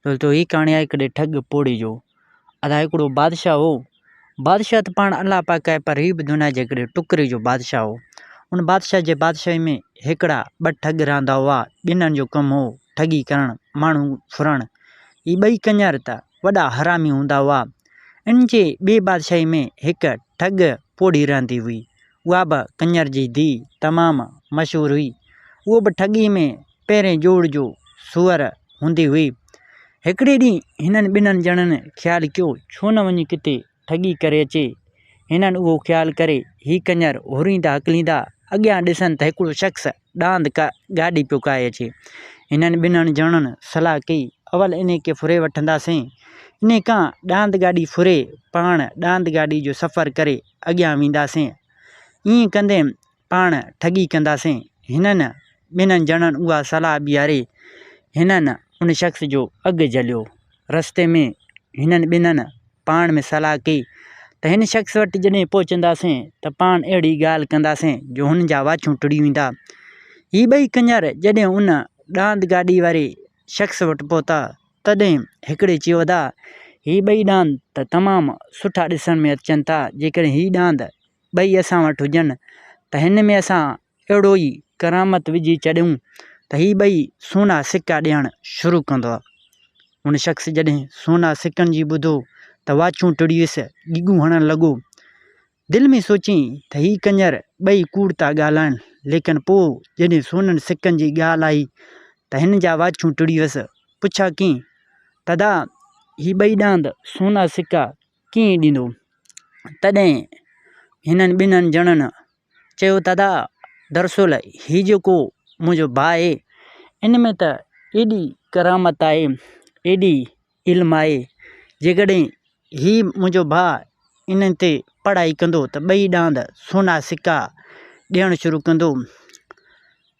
دوستو ھي ڪھاڻي آھي ھڪڙي ٺڳ پوڙھي جو ادا ھڪڙو بادشاھ ھو بادشاھ تھ پاڻ الله پاڪ آھي پر ھي بھ دنيا جي ھڪڙي ٽڪري جو بادشاھ ھو ان بادشاھ جي بادشاھي ۾ ھڪڙا ٻھ ٺڳ رھندا ھئا ٻنھن جو ڪم ھو ٺڳي ڪرڻ ماڻھو ڦرڻ ھي ٻئي ڪڃر تھ وڏا حرامي ھوندا ھئا ان جي ٻي بادشاھي ۾ ھڪ ٺڳ پوڙھي رھندي ھئي اھا بھ ڪڃر جي ڌيء تمام مشھور ھئي اھو بھ ٺڳي ۾ پهرين جوڙ جو سوئر هوندي هئي. هڪڙي ڏينهن هنن ٻنهن ڄڻن خيال ڪيو ڇو نه وڃي ڪٿي ٺڳي ڪري اچي. هنن اهو خيال ڪري هي ڪڃر هوريندا هڪليندا اڳيان ڏسن ته هڪڙو شخص ڏاند گاڏي پيو ڪاهي اچي. هنن ٻنهن ڄڻن صلاح ڪئي اول انهي کي ڦري وٺنداسين. انهي کان ڏاند گاڏي ڦري پاڻ ڏاند گاڏي جو سفر ڪري اڳيان وينداسين. ائين ڪندي پاڻ ٺڳي ڪنداسين. هنن ٻنهن ڄڻن اها صلاح ٻيهاري هنن ان شخص جو اگهه جهليو. رستي ۾ هنن ٻنهن پاڻ ۾ صلاح ڪئي ته هن شخص وٽ جڏهن پهچنداسين ته پاڻ اهڙي ڳالهه ڪنداسين جو هن جا واڇون ٽڙي ويندا. هي ٻئي ڪڃر جڏهن ان ڏاند گاڏي واري شخص وٽ پهتا تڏهن هڪڙي چيو ادا هي ٻئي ڏاند ته تمام سٺا ڏسڻ ۾ اچن ٿا جيڪڏهن هي ڏاند ٻئي اسان وٽ هجن ته هن ۾ اسان اهڙو ئي ڪرامت وجهي ڇڏيون ته هي ٻئي سونا سڪا ڏيڻ شروع ڪندو آهي. هن شخص جڏهن سونا سڪن جي ٻڌو ته واڇون ٽڙي ويس، ڳيڳون هڻڻ لڳو. دل ۾ سوچيائين ته هي ڪڃر ٻئي ڪوڙ ٿا ڳالهائين، ليڪن پوء جڏهن سونن سڪن جي ڳالهه آئي ته هن جا واڇون ٽڙي ويس. پڇا ڪيائين، دادا هي ٻئي ڏاند سونا سڪا ڪيئي ڏيندو. تڏهن هنن ٻنهن ڄڻن چيو ته ادا درصل هي جيڪو منهنجو ڀاء آهي ان ۾ ته ايڏي ڪرامت آهي ايڏي علم آهي جيڪڏهن هي منهنجو ڀاء ان تي پڙهائي ڪندو ته ٻئي ڏاند سونا سڪا ڏيڻ شروع ڪندو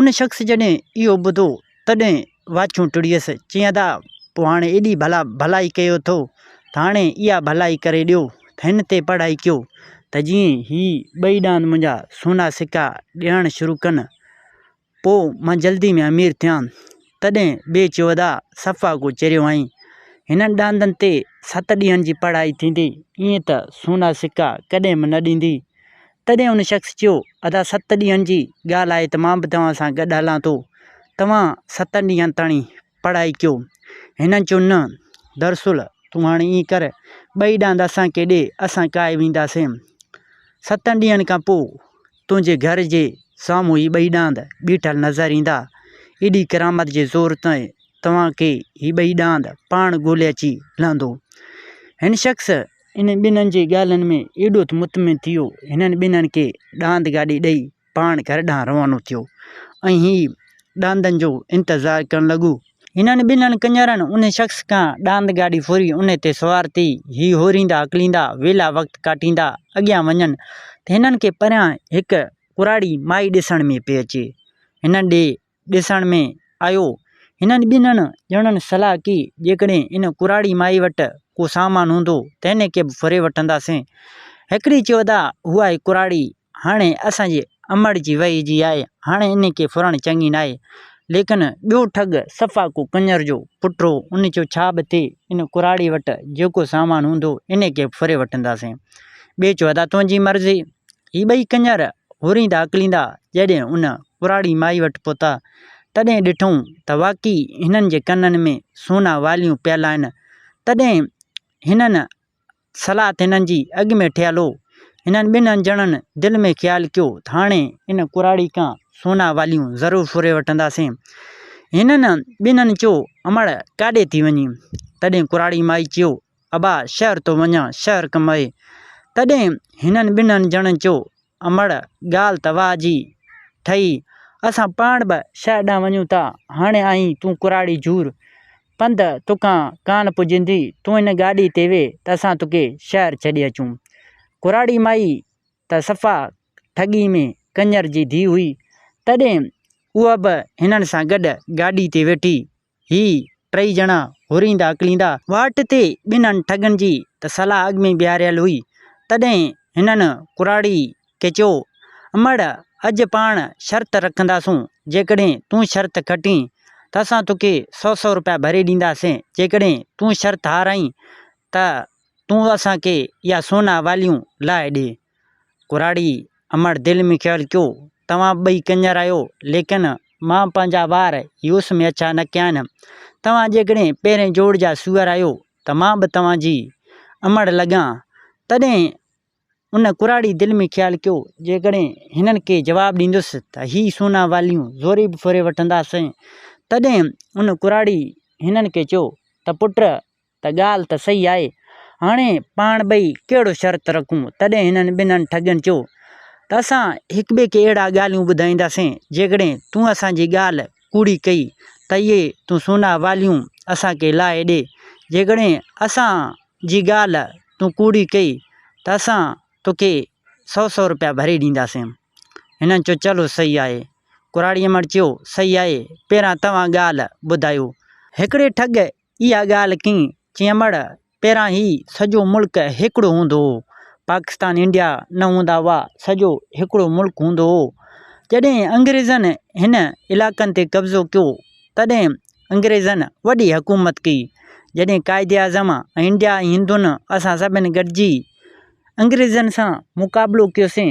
ان شخص جڏهن اهو ٻڌو، تڏهن واڇون ٽڙيس، چيائين ادا، پوء هاڻي ايڏي ڀلا ڀلائي ڪيو اٿو، ته هاڻي اها ڀلائي ڪري ڏيو، ته هن تي پڙهائي ڪيو، ته جيئن هي ٻئي ڏاند منهنجا سونا سڪا ڏيڻ شروع ڪن، پوء مان جلدي ۾ امير ٿيان. تڏهن ٻئي چيو ادا، صفا ڪو چريو آهين، هنن ڏاندن تي ست ڏينهن جي پڙهائي ٿيندي، ائين ته سونا سڪا ڪڏهن به نه ڏيندي، تڏهن ان شخص چيو، ادا ست ڏينهن جي ڳالهه آهي ته مان به توهان سان گڏ هلان ٿو. توهان ستن ڏينهن تائين پڙهائي ڪيو. هن چيو، نه، دراصل تون هاڻي ائين ڪر، ٻئي ڏاند اسان کي ڏي، اسان ڪاهي وينداسين. ستن ڏينهن کان پوء تنهنجي گهر جي سامهون هي ٻئي ڏاند بيٺل نظر ايندا. ايڏي ڪرامت جي زور تي توهان کي هي ٻئي ڏاند پاڻ ڳولي اچي لهندو. هن شخص انهن ٻنهن جي ڳالهين ۾ ايڏو ته مطمئن ٿي ويو، هنن ٻنهن کي ڏاند گاڏي ڏئي پاڻ گهر ڏانهن روانو ٿيو ۽ هي ڏاندن جو انتظار ڪرڻ لڳو. هنن ٻنهن ڪڃرن ان شخص کان ڏاند گاڏي ڦري ان تي سوار ٿي هي هوريندا اڪليندا ويلا وقت ڪاٽيندا اڳيان وڃن ته هنن کي پريان هڪ ڪراڙي مائي ڏسڻ ۾ پئي اچي هنن ڏي ڏسڻ ۾ آيو. هنن ٻنهن ڄڻن صلاح ڪئي، جيڪڏهن ان ڪراڙي مائي وٽ ڪو سامان هوندو، تنهن کي به ڦري وٺنداسين. هڪڙي چيو، ادا، اها هي ڪراڙي هاڻي اسان جي امڙ جي وهي جي آهي، هاڻي ان کي ڦرڻ چڱي ناهي. ليڪن ٻيو ٺڳ صفا ڪو ڪڃر جو پٽ هو، ان چيو، ڇا به ٿئي، ان ڪراڙي وٽ جيڪو سامان هوندو، ان کي به ڦري وٺنداسين. ٻئي چيو، ادا، تنهنجي مرضي. هي ٻئي ڪڃر هوريندا اڪليندا جڏهن ان ڪراڙي مائي وٽ پهتا، تڏهن ڏٺائون ته واقعي هنن جي ڪنن ۾ سونا واليون پيل آهن. تڏهن هنن صلاحت هنن جي اڳ ۾ ٺهيل هو. هنن ٻنهن ڄڻن دل ۾ خيال ڪيو ته هاڻي ان ڪراڙي کان سونا واليون ضرور ڦري وٺنداسين. هنن ٻنهن چيو، امڙ ڪاڏي ٿي وڃين؟ تڏهن ڪراڙي مائي چيو، ابا شهر ٿو وڃان، شهر ڪمائي. تڏهن هنن ٻنهن ڄڻن چيو، امڙ، ڳالهه ته واهه جي ٺهي، اسان پاڻ به شهر ڏانهن وڃون ٿا. هاڻي آهين تون ڪراڙي جور، پنڌ توکان ڪانه پڄندي، تون هن گاڏيء تي ويهه ته اسان توکي شهر ڇڏي اچون. ڪراڙي مائي ته صفا ٺڳي ۾ ڪڃر جي ڌيء هئي، تڏهن اها به هنن سان گڏ گاڏيء تي ويٺي هي ٽئي ڄڻا هوريندا اڪليندا. واٽ تي ٻنهن ٺڳن جي ته صلاح اڳ ۾ بيهاريل هئي، تڏهن هنن ڪراڙي کي چيو، امڙ، اڄ پاڻ شرط رکنداسون، جيڪڏهن تون شرط کٽين ته اسان توکي سؤ سؤ روپيا ڀري ڏينداسين، جيڪڏهن تون شرط هارائين ته تون اسان کي اها سونا واليون لاهي ڏي. ڪراڙي امڙ دل ۾ خيال ڪيو، توهان ٻئي ڪڃر آهيو، ليڪن مان پنهنجا وار يوس ۾ اڇا نه ڪيا آهن. توهان جيڪڏهن پهرئين جوڙ جا سوئر آهيو ته مان به توهان جي امڙ لڳان. تڏهن ان ڪراڙي دل ۾ خيال ڪيو، جيڪڏهن هنن کي جواب ڏيندس ته هي سونا واليون زوري به ڦري وٺنداسين. تڏهن ان ڪراڙي هنن کي چيو ته پٽ! ته ڳالهه ته صحيح آهي، هاڻي پاڻ ٻئي ڪهڙو شرط رکون؟ تڏهن هنن ٻنهن ٺڳين چيو ته اسان هڪٻئي کي اهڙا ڳالهيون ٻڌائينداسين، جيڪڏهن تون اسان جي ڳالهه ڪوڙي ڪئي ته اهي تون سونا واليون اسان کي لاهي ڏي، جيڪڏهن اسان جي ڳالهه تون ڪوڙي ڪئي ته اسان توکي سؤ سؤ روپيا ڀري ڏينداسين. هنن چيو چلو صحيح آهي. ڪراڙيمڻ چيو صحيح آهي، پهريان توهان ڳالهه ٻڌايو. هڪڙي ٺڳ اها ڳالهه ڪين چيمڙ پهران هي سڄو ملڪ هڪڙو هوندو هو پاڪستان انڊيا نه هوندا هئا سڄو هڪڙو ملڪ هوندو هو جڏهن انگريزن هن علائقن تي قبضو ڪيو تڏهن انگريزن وڏي حڪومت ڪئي جڏهن قائد اعظم ۽ انڊيا ۽ هندن اسان سڀن گڏجي انگريزن سان مقابلو ڪيوسين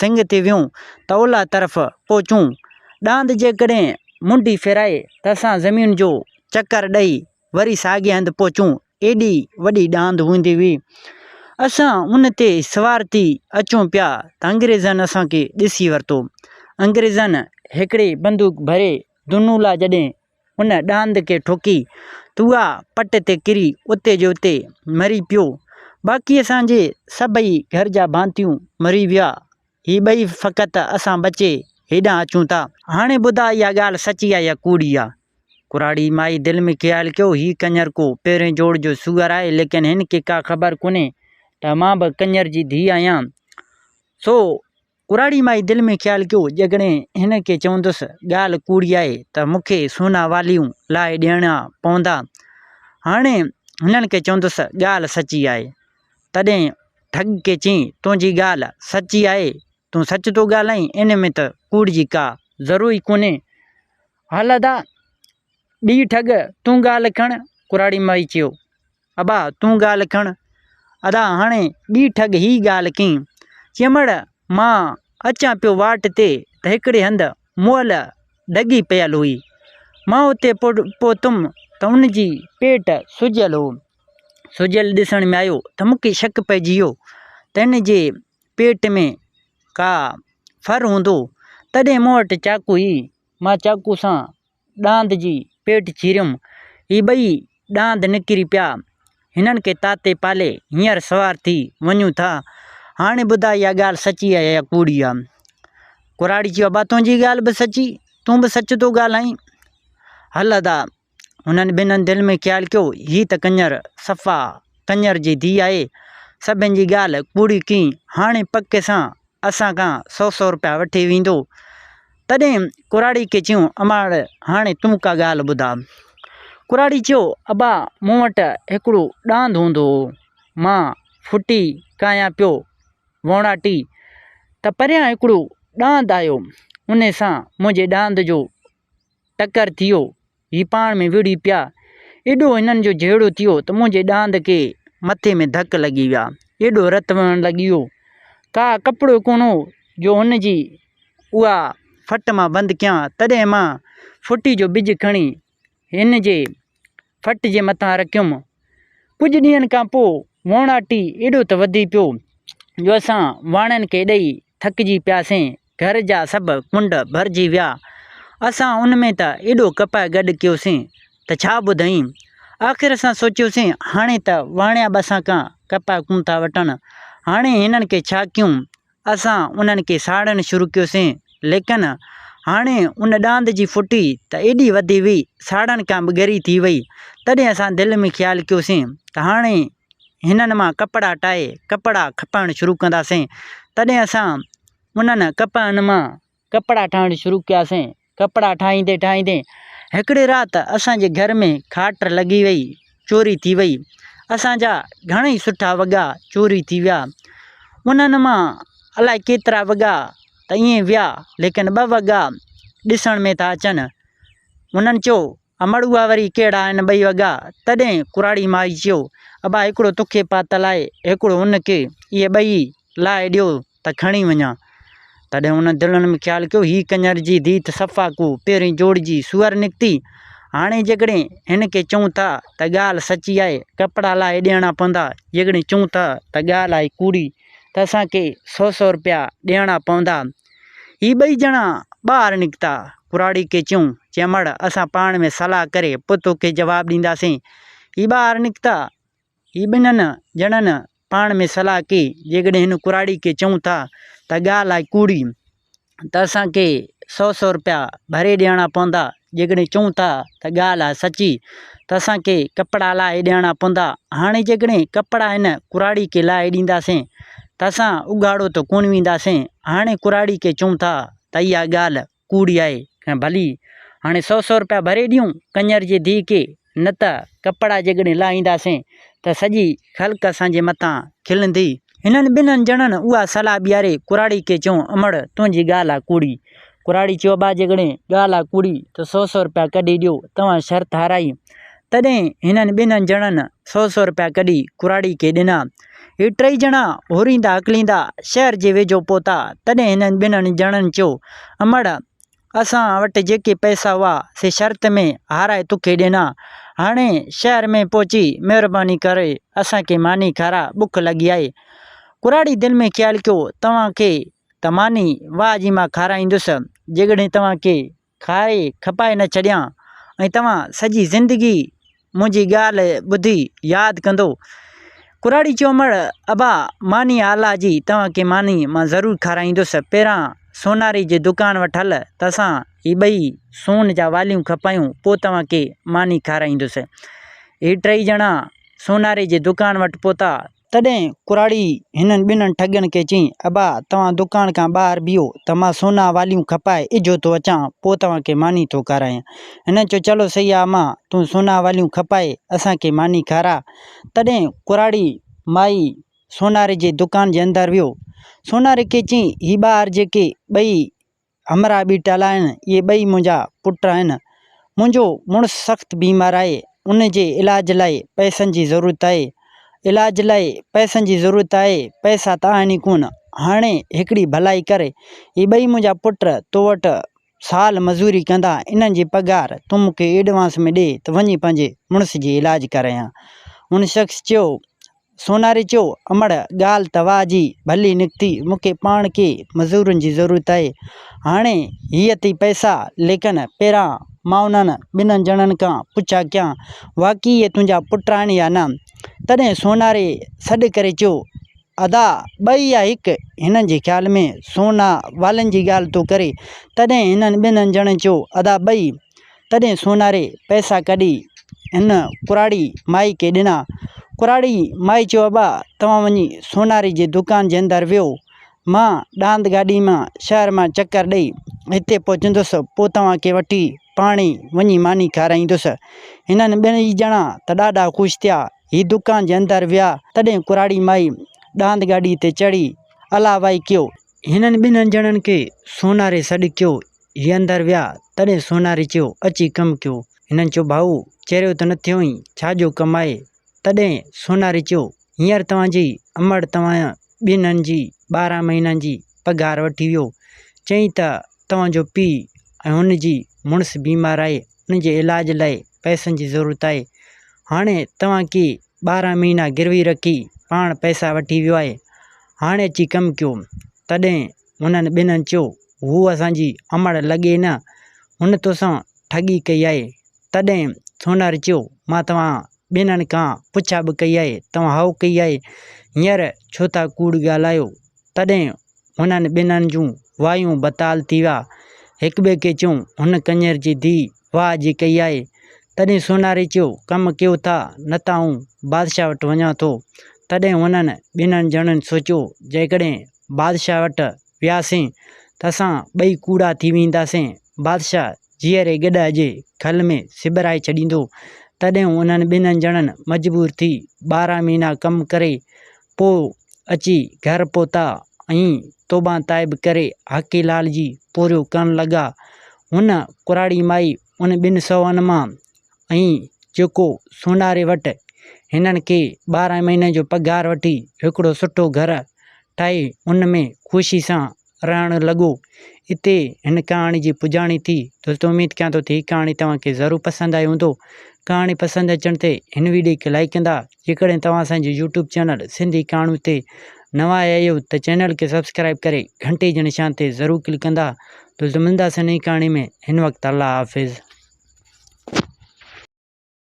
سنگ تي ويون، ته اولهه طرف پهچون. ڏاند جيڪڏهن منڍي ڦيرائي ته اسان زمين جو چڪر ڏئي وري ساڳئي هنڌ پهچون. ايڏي وڏي ڏاند هوندي هئي. اسان ان تي سوار ٿي اچون پيا ته انگريزن اسان کي ڏسي ورتو. انگريزن هڪڙي بندوق ڀري دونولا جڏهن ان ڏاند کي ٺوڪي تئا پٽ تي ڪري اتي جو اتي مري پيو. باقي اسان جي سڀئي گهر جا ڀانتيون مري ويا. هي ٻئي فقط اسان بچي هيڏانهن اچون ٿا. هاڻي ٻڌاء اها ڳالهه سچي آهي يا ڪوڙي آهي؟ ڪراڙي مائي دل ۾ خيال ڪيو، هي ڪڃر ڪو پهرين جوڙ جو سوئر آهي، ليڪن هن کي ڪا خبر ڪونهي ته مان به ڪڃر جي ڌيء آهيان، سو ڪراڙي مائي دل ۾ خيال ڪيو، جيڪڏهن هن کي چوندس ڳالهه ڪوڙي آهي ته مون کي سونا واليون لاهي ڏيڻا پوندا. هاڻي هنن کي چوندس ڳالهه سچي آهي. تڏهن ٺڳ کي چيائين، تنهنجي ڳالهه سچي آهي، تون سچ ٿو ڳالهائين، ان ۾ ته ڪوڙ جي ڪا ضرورت ئي ڪونهي. هل ادا! ٻي ٺڳ، تون ڳالهه کڻ، ڪراڙي مائي چيو. ابا، تون ڳالهه کڻ. ادا، هاڻي ٻي ٺڳ هي ڳالهه ڪئين. چيمڙ، مان اچان پيو واٽ تي ته هڪڙي هنڌ مئل ڍڳي پيل هئي. مان اتي پهتم ته ان جي پيٽ سجيل هو. سجيل ڏسڻ ۾ آيو ته مون کي شڪ پئجي ويو ته هن جي پيٽ ۾ ڪا ڦر هوندو. تڏهن مون وٽ چاقو هئي. مان چاقو سان ڏاند جي پيٽ چيريم. هي ٻئي ڏاند نڪري پيا. هنن کي تاتي پالي هينئر سوار ٿي وڃون ٿا. هاڻي ٻڌاء اها ڳالهه سچي آهي يا ڪوڙي آهي؟ ڪراڙي چيو، ابا تنهنجي ڳالهه به سچي، تون به سچ ٿو ڳالهائين. هل ادا! هنن ٻنهن دل ۾ خيال ڪيو، هي ته ڪڃر، صفا ڪڃر جي ڌيء آهي. سڀني جي ڳالهه ڪوڙي ڪئين. هاڻي پڪ سان اسان کان سو سو روپيا وٺي ويندو. تڏهن ڪراڙي کي چيو، اماڙ هاڻي تون ڪا ڳالهه ٻڌاء. ڪراڙي چيو، ابا مون وٽ هڪڙو ڏاند هوندو هو، مان ڦٽي ڪاهيان پيو ووڻاٽي ته پريان هڪڙو ڏاند آيو، انهي سان منهنجي ڏاند جو ٽڪر ٿي ويو، هي پاڻ ۾ وڙهي پيا. ايڏو هنن جو جهيڙو ٿيو ته منهنجي ڏاند کي مٿي ۾ ڌڪ لڳي ويا. ايڏو رت وهڻ لڳي ويو. ڪا ڪپڙو ڪونه هو جو هن جي اها ڦٽ مان بند ڪيان. تڏهن مان ڦٽي جو ٻج کڻي هن جي ڦٽ جي مٿان رکيم. ڪجهه ڏينهن کان پوء ووڻاٽي ايڏو ته وڌي پيو جو اسان واڻن کي ڏئي ٿڪجي پياسين، گهر جا سڀ ڪنڊ ڀرجي ويا، اسان ان ۾ ته ايڏو ڪپهه گڏ ڪيوسين ته ڇا ٻڌايين، آخر اسان سوچيوسين هاڻي ته واڻيا به اسان کان ڪپهه ڪون ٿا وٺن، هاڻي هنن کي ڇا ڪيون، اسان انهن کي ساڙڻ شروع ڪيوسين، ليڪن هاڻي ان ڏاند جي ڦٽي ته ايڏي وڌي وئي، ساڙڻ کان به ڳري ٿي وئي، تڏهن اسان دل ۾ خيال ڪيوسين ته هاڻي هنن مان ڪپڙا ٽائي ڪپڙا کپائڻ شروع ڪنداسين تڏهن اسان انهن ڪپهن مان ڪپڙا ٺاهڻ شروع ڪياسين ڪپڙا ٺاهيندي ٺاهيندي هڪڙي رات اسانجي گهر ۾ کاٽ لڳي وئي چوري ٿي وئي اسانجا گهڻئي سٺا وڳا چوري ٿي ويا انهن مان الائي ڪيترا وڳا ته ائين ويا ليڪن ٻه وڳا ڏسڻ ۾ ٿا اچن هنن چيو امڙ اها وري ڪهڙا آهن ٻئي وڳا؟ تڏهن ڪراڙي مائي چيو، ابا هڪڙو توکي پاتل آهي، هڪڙو ان کي، اهي ٻئي لاهي ڏيو ته کڻي وڃان. تڏهن هن دلن ۾ خيال ڪيو، هي ڪڃر جي ڌيء ته صفا ڪو پهرين جوڙ جي سوئر نڪتي، هاڻي جيڪڏهن هن کي چئون ٿا ته ڳالهه سچي آهي، ڪپڙا لاهي ڏيڻا پوندا، جيڪڏهن چئون ٿا ته ڳالهه آهي ڪوڙي ته اسان کي سؤ سؤ رپيا ڏيڻا پوندا، هي ٻئي ڄڻا ٻاهر نڪتا. ڪراڙي کي چيائون، چيمڙ، اسان پاڻ ۾ صلاح ڪري پوء توکي جواب ڏينداسين. هي ٻاهر نڪتا. هي ٻنهن ڄڻن پاڻ ۾ صلاح ڪئي، جيڪڏهن هن ڪراڙي کي چئون ٿا ته ڳالهه آهي ڪوڙي ته اسان کي سؤ سؤ رپيا ڀري ڏيڻا پوندا، جيڪڏهن چئون ٿا ته ڳالهه آهي سچي ته اسان کي ڪپڙا لاهي ڏيڻا پوندا هاڻي جيڪڏهن ڪپڙا هن ڪراڙي کي لاهي ڏينداسين ته اسان اگهاڙو ته ڪونه وينداسين هاڻي ڪراڙي کي چئون ٿا ته اها ڳالهه ڪوڙي آهي ۽ ڀلي هاڻي سؤ سؤ روپيا ڀري ڏيون ڪڃر جي ڌيء کي نه ته ڪپڙا جيڪڏهن لاهينداسين ته سڄي خلق اسان جي مٿان کلندي. هنن ٻنهن ڄڻن اها صلاح ٻيهاري ڪراڙي کي چيو، امڙ، تنهنجي ڳالهه آ ڪوڙي. ڪراڙي چيو، ابا جيڪڏهن ڳالهه آ ڪوڙي ته سؤ سؤ رپيا ڪڍي ڏيو، توهان شرط هارائي. تڏهن هنن ٻنهن ڄڻن سؤ سؤ رپيا ڪڍي ڪراڙي کي ڏنا. هي ٽئي ڄڻا هوريندا هڪليندا شهر جي ويجهو پهتا، تڏهن هنن ٻنهن ڄڻن چيو، امڙ، اسان وٽ جيڪي پئسا هئا سي شرط ۾ هارائي توکي ڏنا. هاڻي شهر ۾ پهچي مهرباني ڪري اسان کي ماني کاراء بک لڳي آهي. ڪراڙي دل ۾ خيال ڪيو توهان کي ته ماني واهه جي مان کارائيندس جيڪڏهن توهان کي کاري کپائي نه ڇڏيان ۽ توهان سڄي زندگي منهنجي ڳالهه ٻڌي ياد ڪندو. ڪراڙي چومڙ، ابا ماني آلا جي توهان کي ماني مان ضرور کارائيندس. پهريان سوناري جي دڪان وٽ هل ته اسان هي ٻئي سون جا واليون کپايون پوء توهان کي ماني کارائيندس. هي ٽئي ڄڻا سوناري جي دڪان وٽ پهتا تڏهن ڪراڙي هنن ٻنهن ٺڳن کي چيائين، ابا توهان دڪان کان ٻاهر بيهو ته مان سونا واليون کپائي اجهو ٿو اچان، پوء توهان کي ماني ٿو کارايان. هنن چيو، چلو سهي آ امان، تون سونا واليون کپائي اسان کي ماني کاراء. تڏهن ڪراڙي مائي سوناري جي دڪان جي اندر ويو. سوناري کي چيائين، هي ٻاهر جيڪي ٻئي همراهه به ٽيل آهن، اهي ٻئي منهنجا پٽ آهن. منهنجو مڙس سخت بيمار آهي، ان جي علاج لاء پئسن جي ضرورت آهي. علاج لاء پئسن جي ضرورت آهي، پئسا ته آهن ئي ڪونه. هاڻي هڪڙي ڀلائي ڪر، هي ٻئي منهنجا پٽ تو وٽ سال مزوري ڪندا، انهن جي پگهار تون مون کي ايڊوانس ۾ ڏي ته وڃي پنهنجي مڙس جي علاج ڪرايان. هن شخص چيو، سوناري چيو، امڙ، ڳالهه توهان جي ڀلي نڪتي، مون کي پاڻ ڪي مزورن جي ضرورت آهي. هاڻي هي اٿئي پئسا، ليڪن پهريان مان انهن ٻنهن ڄڻن کان پڇا ڪيان، واقعي اهي تنهنجا پٽ آهن يا نه؟ تڏهن سوناري سڏ ڪري چيو، ادا، ٻئي يا هڪ؟ هنن جي خيال ۾ سونا والن جي ڳالهه ٿو ڪري. تڏهن هنن ٻنهن ڄڻن چيو، ادا، ٻئي. تڏهن سوناري پئسا ڪڍي هن ڪراڙي مائي کي ڏنا. ڪراڙي مائي چيو ابا توهان وڃي سوناري جي دوڪان جي اندر ويهو مان ڏاند گاڏي مان شهر مان چڪر ڏئي هتي پهچندس پوء توهان کي وٺي پاڻهي وڃي ماني کارائيندس. هنن ٻنهي ڄڻا ته ڏاڍا خوش ٿيا. هي دوڪان جي اندر ويا تڏهن ڪراڙي مائي ڏاند گاڏي تي چڙهي الاوائي ڪيو. هنن ٻنهن ڄڻن کي سوناري سڏ ڪيو هي اندر ويا، تڏهن سونهاري چيو، اچي ڪم ڪيو. هنن چيو، ڀائو! چريو ته نه ٿيو ائين، ڇا جو ڪم آهي؟ تڏهن سونهاري چيو، هينئر توهان جي امڙ توهان ٻنهن جي ٻارهن مهينن جي پگهار وٺي ويو. چيائين ته توهان جو پيء ۽ هن جي مڙس بيمار آهي، ان جي علاج لاء پئسن جي ضرورت آهي. هاڻي توهان ڪي ٻارهن مهينا گروي رکي پاڻ پئسا وٺي ويو آهي. هاڻي اچي ڪم ڪيو. تڏهن انهن ٻنهن چيو، هوء اسان جي امڙ لڳي نه، هن تو سان ٺڳي ڪئي آهي. تڏهن سونهر چيو، مان توهان ٻنهن کان پڇا به ڪئي آهي، توهان هائو ڪئي آهي، هينئر ڇو ٿا ڪوڙ ڳالهايو؟ تڏهن هنن ٻنهن جون وايون بتال ٿي ويا. هڪٻئي کي چيو، هن ڪڃر جي ڌيء واهه جي ڪئي آهي. تڏهن سونهاري چيو، ڪم ڪيو ٿا، نه ته آئون بادشاهه وٽ وڃان ٿو. تڏهن هنن ٻنهن ڄڻن سوچيو، جيڪڏهن بادشاهه وٽ وياسين ته اسان ٻئي ڪوڙا ٿي وينداسين. بادشاهه جيئري گڏهه جي کل ۾ سٻرائي ڇڏيندو. تڏهن انهن ٻنهي ڄڻن مجبور ٿي ٻارهن مهينا ڪم ڪري پوء اچي گهر پهتا ۽ توبه تائب ڪري حاڪي لال جي پورهيو ڪرڻ لڳا. هن ڪراڙي مائي ان ٻن سوهن مان ۽ جيڪو سوناري وٽ هنن کي ٻارهن مهينن جو پگهار وٺي هڪڙو سٺو گهر ٺاهي ان ۾ خوشي سان رهڻ لڳو. اتي هن ڪهاڻي جي پڄاڻي ٿي. دوستو اميد ڪيان ٿو ته هي ڪهاڻي توهان کي ضرور پسند آئي هوندو. ڪهاڻي پسند اچڻ تي هن ويڊيو کي لائيڪ ڪندا جيڪڏهن توهان اسان جي يوٽيوب چينل سنڌي ڪهاڻيون تي نوان آيا آهيو ته چينل کي سبسڪرائيب ڪري گهنٽي جي نشان تي ضرور ڪلڪ ڪندا تو ته ملنداسين نئين ڪهاڻي ۾ هن وقت الله حافظ